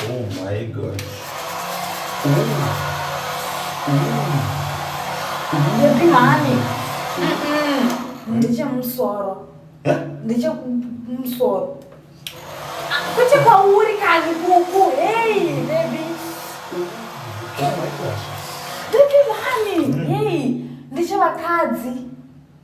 Oh my God. Baby honey. Ndiche musoro. Eh? Ndiche musoro. Ah, Kuche kwauri kani kuku. Hey baby. Oh my gosh. Baby honey. Mm. Hey. Ndiche vakadzi.